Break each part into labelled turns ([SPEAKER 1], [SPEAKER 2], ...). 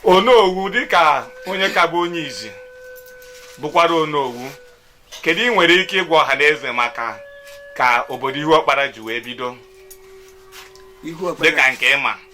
[SPEAKER 1] onowu dịka onye ka bụ onye izi bụkwara onowu kedu ị nwere ike ịgwa ọha na eze maka ka obodo Ihuọkpara ji wee bido dịka nke ị ma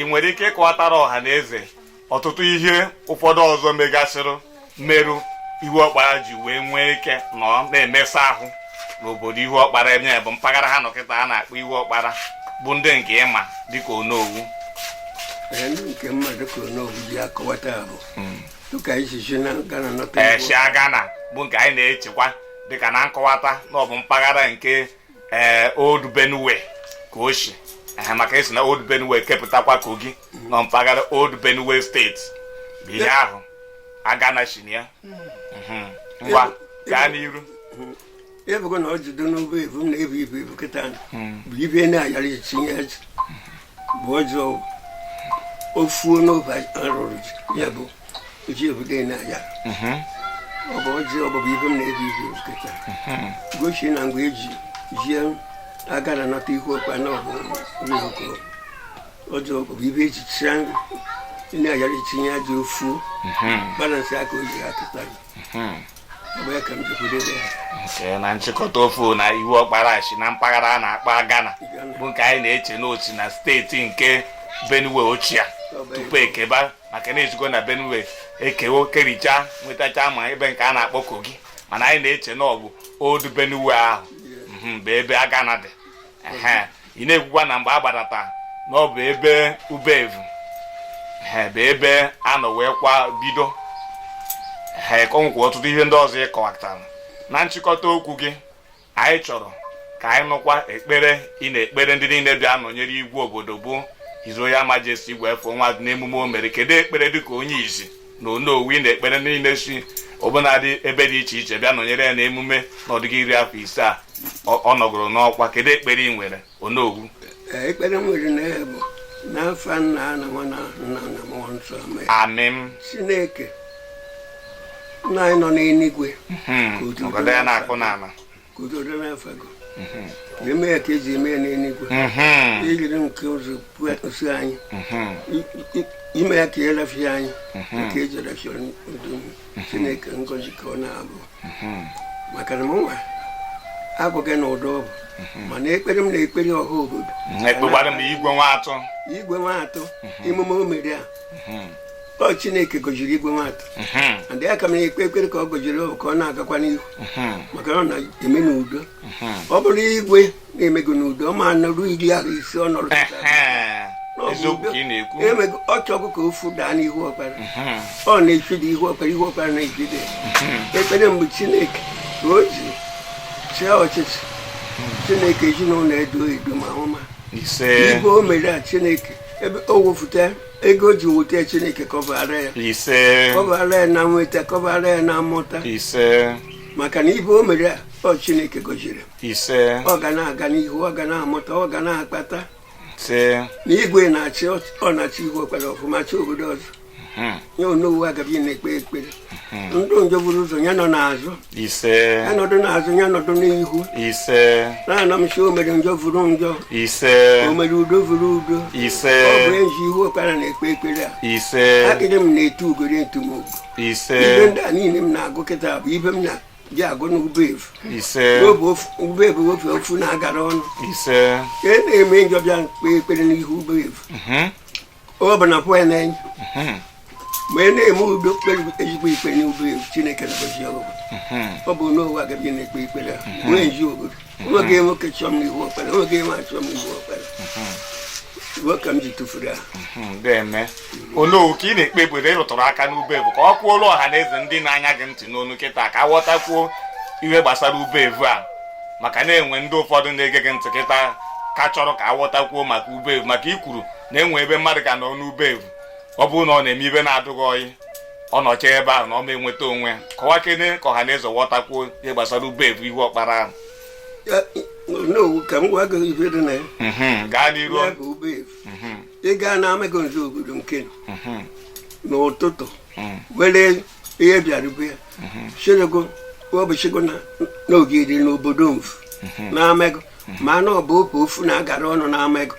[SPEAKER 1] ị nwere ike ịkọwatara ọha na eze ọtụtụ ihe ụfọdụ ọzọ megasịrị merụ Ihuọkpara ji wee nwee ike nọ na-emesa ahụ n'obodo Ihuọkpara ebe bụ mpaghara ha nọ kịta a na-akpọ Ihuọkpara bụ ndị nke ị ma dịka
[SPEAKER 2] onowu nke mma dịka onowu ji akọwata ahụ hmm. dịka e si na Agana nọta e shi Agana
[SPEAKER 1] bụ nke anyị na-echekwa dịka na nkọwata na ọ bụ mpaghara nke ee eh, old benue ka o si eh, maka e si na old benue kepụtakwa kogi na mpaghara old benue steeti bụ ihe ahụ agana si na ya mhm. ngwa gaa n'iru
[SPEAKER 2] ebugo na ọ jido n'obe ebu na ebu ibu ibu kịta hmm. bụ ibe na-ayara itinye bụ ọjọọ ofuo n'obe arụrụ ya bụ ji obodo na ya mhm. ọ bụ ọjị ọbụbụ ibe m na-eji ihu kịta mhm. gosi na mgbe eji jie Agana nata Ihuọkpara na ọbụ oko ọjị ọbụbụ ibe eji chịa na-ayara itinye ya dị ofu mhm. balansị aka o ji ha
[SPEAKER 1] kịtara nke na nchịkọta ofu na Ihuọkpara shi na mpaghara a na-akpọ Agana bụ nke anyị na-eche na o shi na steeti nke Benue ochie tupu e keba maka na e sigo na benue ekewo kericha nwetacha ma ebe nke a na-akpọ kogi mana anyị na-eche na ọ bụ old benue ahụ mhm, bụ ebe agana dị ị na-ekwukwa na mgbe a gbadata na ọ bụ ebe ubevu bụ ebe a nọ weekwa bido ehe ka o nwekwa ọtụtụ ihe ndị ọzọ ị kọwatara na nchịkọta okwu gị anyị chọrọ ka anyị nụkwa ekpere ị na-ekpere ndị niile bịa nọnyere igwe obodo bụ His Royal Majesty Igwe F.O. Nwatu n'emume o mere kedu ekpere dịka onye izi na onowu ị na-ekpere ndị niile si ọbụnadị ebe dị iche iche bịa nọnyere ya n'emume na ọ dịgo iri afọ ise a ọ nọgoro n'ọkwa kedu ekpere ị nwere Onowu
[SPEAKER 2] ekpere m nwere na ya bụ n'afa nna na nwa na nna na mmụọ nsọ amen
[SPEAKER 1] Chineke
[SPEAKER 2] nna anyị nọ n'eluigwe hmm,
[SPEAKER 1] ka udo dị
[SPEAKER 2] n'afa gị eme ya ka eji eme ya n'eluigwe mhm. ijiri nke ụzọ kwụsị anyị mhm. ime ya ka ya rafie anyị mhm. ka eji rafie chineke ngozi ka ọ na-abụ mhm. maka na mụnwa agwaghị na ụdọ ọbụ mhm. mana ekpere m na-ekpere ọha obodo ekpekwara m igwe
[SPEAKER 1] Nwatu igwe Nwatu emume o mere a ọ chineke gọjiri igwe Nwatu mhm. ndị a ka m na-ekpe ekpere ka ọ gọjiri ka ọ na-agakwa n'ihu mhm. maka na ọ na-eme n'udo mhm. ọ bụrụ igwe na-emego n'udo ọ ma nọrụ iri ahọ ise ọ nọrọ eziokwu ka ị na-ekwu emego ọ chọkụ ka ofu daa n'Ihuọkpara mhm. ọ na-echide Ihuọkpara Ihuọkpara na-ejide mhm. ekpere mgbe chineke ka o ji chịa ọchịchị mhm. chineke ezinụlọ edo edo ma ọma ibe o mere a chineke ebe o wefụta ego ji wute chineke kọbara ya kọbara ya na nweta kọbara ya na mmụta maka na ibe o mere a ọ chineke gọziri m ise ọ ga na-aga n'ihu ọ ga na-amụta ọ ga na-akpata ise na igwe na-achị ọ na-achị Ihuọkpara ọfụma chi obodo ọzọ hmm. ya onowu agabi na-ekpe ekpere hmm. ndị njọ buru ụzọ ya nọ n'azụ ise ya nọdụ n'azụ ya nọdụ n'ihu ise na-ana m si o mere njọ vuru njọ ise o mere udo vuru udo ise ọ bụ eji Ihuọkpara na-ekpe ekpere a ise akịrị m na-etu ugori ntumogu ise ibe ndị a niile m na-agụ kịta bụ ibe m na ji agụ n'ube evu ise n'obe ofu- ube evu ofe ofu na-agara ọnụ ise ka e na-eme njọ bịa kpee ekpere n'ihu ube evu mhm, ọ bụ na pụọ na-enye mhm, ma ị na-eme udo kpere ezigbo ikpe n'ube evu chineke na-agọzi obodo mhm. ọ bụ onowu agabi na-ekpe ekpere a nwee nji obodo nwoke nwoke chọọ m n'Ihuọkpara nwoke nwa chọọ m n'Ihuọkpara iwu ka m ji tụfuru ya deme onowu ka ị na-ekpe ekpere ị rụtụrụ aka n'ube evu ka ọ kwuolu ọha na eze ndị na-anya gị ntị n'onu kịta ka ghọtakwuo ihe gbasara ube evu a maka na-enwe ndị ụfọdụ na-ege gị ntị kịta ka chọrọ ka aghọtakwuo maka ube evu maka i kwuru na enwe ebe mmadụ ga nọ n'ube evu ọ bụrụ na ọ na-eme ibe na-adụghị ọyị
[SPEAKER 3] ọ nọcha ebe ahụ na ọ ma enweta onwe ya kọwakene ka ọha na eze ghọtakwuo ihe gbasara ube evu Ihuọkpara ahụ
[SPEAKER 2] onowu ka m gwa gị ife dị na ya Mhm, gaa n'iru ya bụ ube
[SPEAKER 3] evu
[SPEAKER 2] Mhm, ị gaa n'Amagunze obodo nke mhm, n'ụtụtụ mhm, were ihe bịara ube ya chirego ụbọchịgo na n'ogiri n'obodo mfu na amego mana ọ bụ obu ofu na-agara ọnụ n'ama ego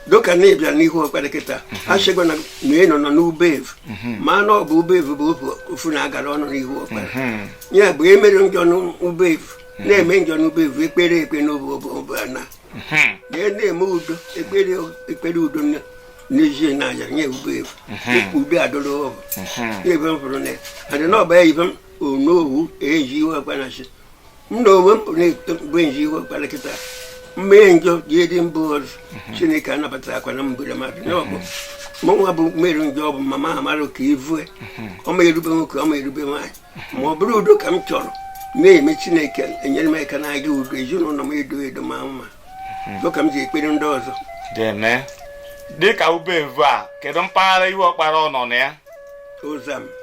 [SPEAKER 2] doka na ị bịa n'Ihuọkpara kịta a sị gị na ị nọ n'ube evu mana ọ bụ ube evu bụ ofu na-agara ọnụ n'Ihuọkpara ya bụ emere njọ n'ube evu na-eme njọ n'ube evu ekpere ekpe n'obu obu ana ya na-eme udo ekpere ekpere udo nne n'ezie na aja nye ube evu ube adọrọ ọbụ ya ebe m fụrụ na ya adị n'ọba ya ibe m onowu eji iwe akpa na chi m na onwe m na-eto mgbe nji ihu ọkpara kịta mmee njọ ji edi mbụ ọzọ chineke anabata akwa na mgbere mmadụ na ọ bụ mụ nwa bụ mere njọ ọ bụ mama amara ka ivue ọ ma erube nwoke ọ ma erube nwaanyị ma ọ bụrụ udo ka m chọrọ na-eme chineke enyere m aka na-aga udo ezinụlọ m edo edo ma mma dịka m ji ekpere ndị ọzọ
[SPEAKER 3] eme dịka ube evu a kedu mpaghara ihu ọkpara ọ nọ na ya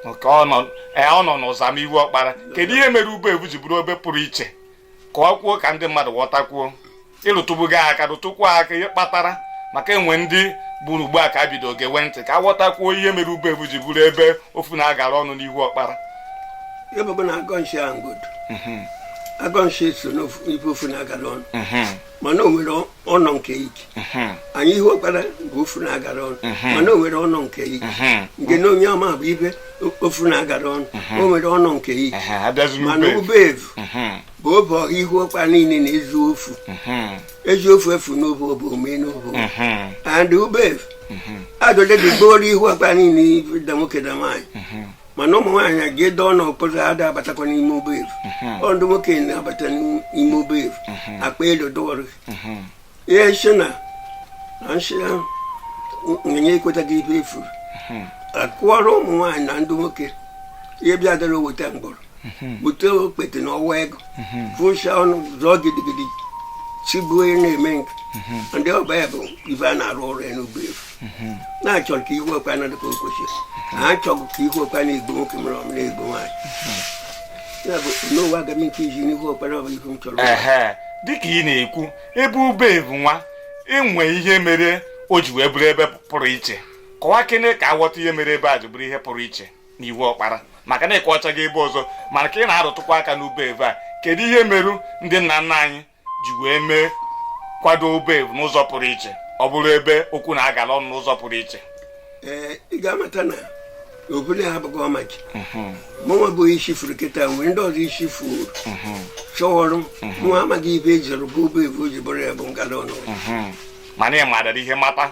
[SPEAKER 3] nke ọ nọ e, n'ụzam ihu ọkpara kedu ihe mere ube evu ji bụrụ ebe pụrụ iche ka ọ kwuo ka ndị mmadụ ghọtakwuo ị rụtụbugo aka rụtụkwuo aka ihe kpatara maka enwe ndị bụrụ ugbu a ka ha bidoro gewe ntị ka ha ghọtakwuo ihe mere ube evu ji bụrụ ebe ofu na-agara ọnụ n'ihu
[SPEAKER 2] ọkpara agọnshi so n'ife ofu na-agara ọnụ mhm. mana o nwere ọnọ nke ike anyị ihu ọkpara bụ ofu na-agara ọnụ mana o nwere ọnọ nke ike nke na onye ọma bụ ibe ofu na-agara ọnụ o nwere ọnọ nke ike mana ube evu bụ obe ọha ihu ọkpara niile na-ezu ofu eji ofu efu n'obe obe ome n'obe and ube evu adole dị gbooro ihu ọkpara niile da nwoke da nwaanyị mana ụmụ nwaanyị a ga-edo ọnụ ọkụzụ ada abatakwa n'ime ube evu mhm. ọ ndị nwoke na-abata n'ime ube evu mhm. akpa elu dọwara mhm. ihe nshi na na nshi ahụ nyenye ekwetaghị ibe efu akụọrọ ụmụ nwaanyị na ndị nwoke ihe bịa dara oweta mgbọrọ bute okpete na ọwa ego fụcha ọnụ zụọ gidigidi chigbuo na-eme nke ndị ọba ya bụ ibe a na-arụ ọrụ ya n'ube evu na-achọrọ ka ihu ọkpara dị ka o kwesịrị ha achọghị ka ihu ọkpara igbo nwoke mere ọmụ na igbo nwaanyị ya bụ n'ụwa aga m nke iji n'ihu ọkpara ọ bụ ihu m chọrọ ehe dịka ị
[SPEAKER 3] na-ekwu ebe ube evu nwa enwe ihe mere o ji wee bụrụ ebe pụrụ iche kọwakene ka a ghọta ihe mere ebe a ji bụrụ ihe pụrụ iche n'ihu ọkpara maka na ị kọwachaghị ebe ọzọ mana ka ị na-arụtụkwa aka n'ube evu a kedu ihe merụ ndị nna nna anyị ji wee mee kwado ube evu n'ụzọ pụrụ iche ọ bụrụ ebe okwu na-agala ọnụ n'ụzọ pụrụ iche ee ị
[SPEAKER 2] ga-amata na obele ha abụghị ọma gị mụnwa bụ isi furu kịta nwere ndị ọzọ isi furu chọwọrọ mụ amaghị ibe ejiri bụ ube evu o ji bụrụ ya bụ ngala ọnụ
[SPEAKER 3] mana ị madara ihe mata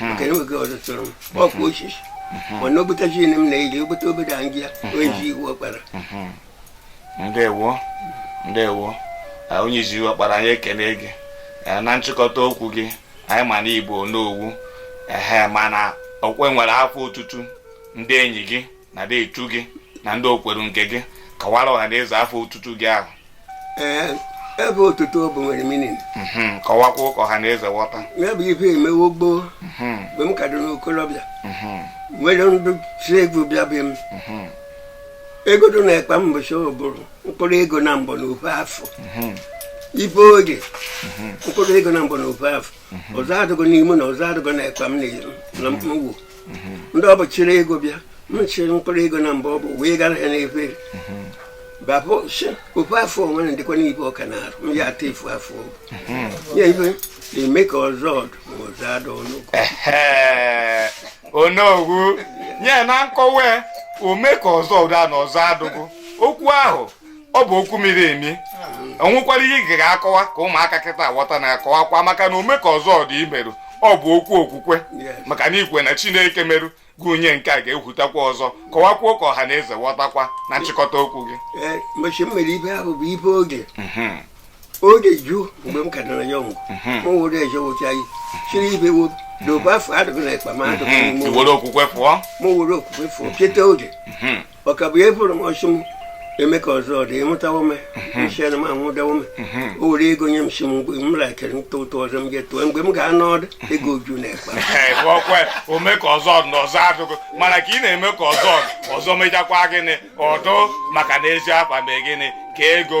[SPEAKER 2] maka na oge ọzọ chọrọ m ọkwa osisi mana obutachi m na-eji obute obodo anyị a onye ji ihu ọkpara ndewo
[SPEAKER 3] ndewo onye ji ihu ọkpara anyị ekele gị na nchịkọta okwu gị anyị ma na igbo n'owu ehe mana okwe nwere afọ ọtụtụ ndị enyi gị na ndị etu gị na ndị okweru nke gị kọwara ọha na eze afa otutu gị ahụ
[SPEAKER 2] ee afa otutu ọ bụ nwere meaning mhm, kọwakwuo
[SPEAKER 3] ka ọha na eze ghọta ya bụ ife emewo
[SPEAKER 2] gboo mhm. mgbe m ka dị n'okolobịa mhm. nwere ndị si egwu bịa be m ego dị n'ekpa mbọchị ọ bụrụ mkpụrụ ego na mbọ na ofu afụ ife oge mkpụrụ ego na mbọ na ofu afụ ọzọ adịgo n'ime na ọzọ adịgo n'ekpa m na mkpụrụ mhm. ndị ọ bụ chịrị ego bịa m chịrị mkpụrụ ego na mbọ ọ bụ wee gara ha n'efere mhm. hapụ ofu afụ onwe na ndịkwa n'ibe ọka na arụ m ya ata efu afọ ya ife na ome ka ọzọ dụ ma ọzọ adụgụ
[SPEAKER 3] onowu nye na nkọwa ome ka ọzọ dụ ma ọzọ adụgụ okwu ahụ ọ bụ okwu miri emi o nwekwara ihe ị ga-akọwa ka ụmụaka kịta ghọta na akọwakwa maka na ome ka ọzọ dị i meru ọ bụ okwu okwukwe maka na i kwe na chineke meru gị nye nke a ga-ehwutakwa ọzọ kọwakwuo ka ọha na eze ghọtakwa na nchịkọta okwu gị mgbe m
[SPEAKER 2] mere ife ahụ bụ ife oge mhm. oge ju mgbe m ka nọrọ ya ọgwụ m were eje wụcha gị chiri ibe wobi dobe afụ adịghị n'ekpa m adịghị m were okwukwe fụọ
[SPEAKER 3] m were okwukwe fụọ
[SPEAKER 2] cheta oge mhm. ọkabụ ya bụrụ m ọchụ m ome ka ọzọ dị ịmụtawo m nchena m anwụdawo m o were ego nye m sị m mgbe m lakere ntụ ụtụ ọzọ m ga-etuo mgbe m ga-anọ ọdụ ego ju n'ekpa ọkwe
[SPEAKER 3] ome ka ọzọ na ọzọ adụgụ mana ka ị na-eme ka ọzọ ọzọ mechakwa gịnị ọ dụ maka na ezi afa mee gịnị ka ego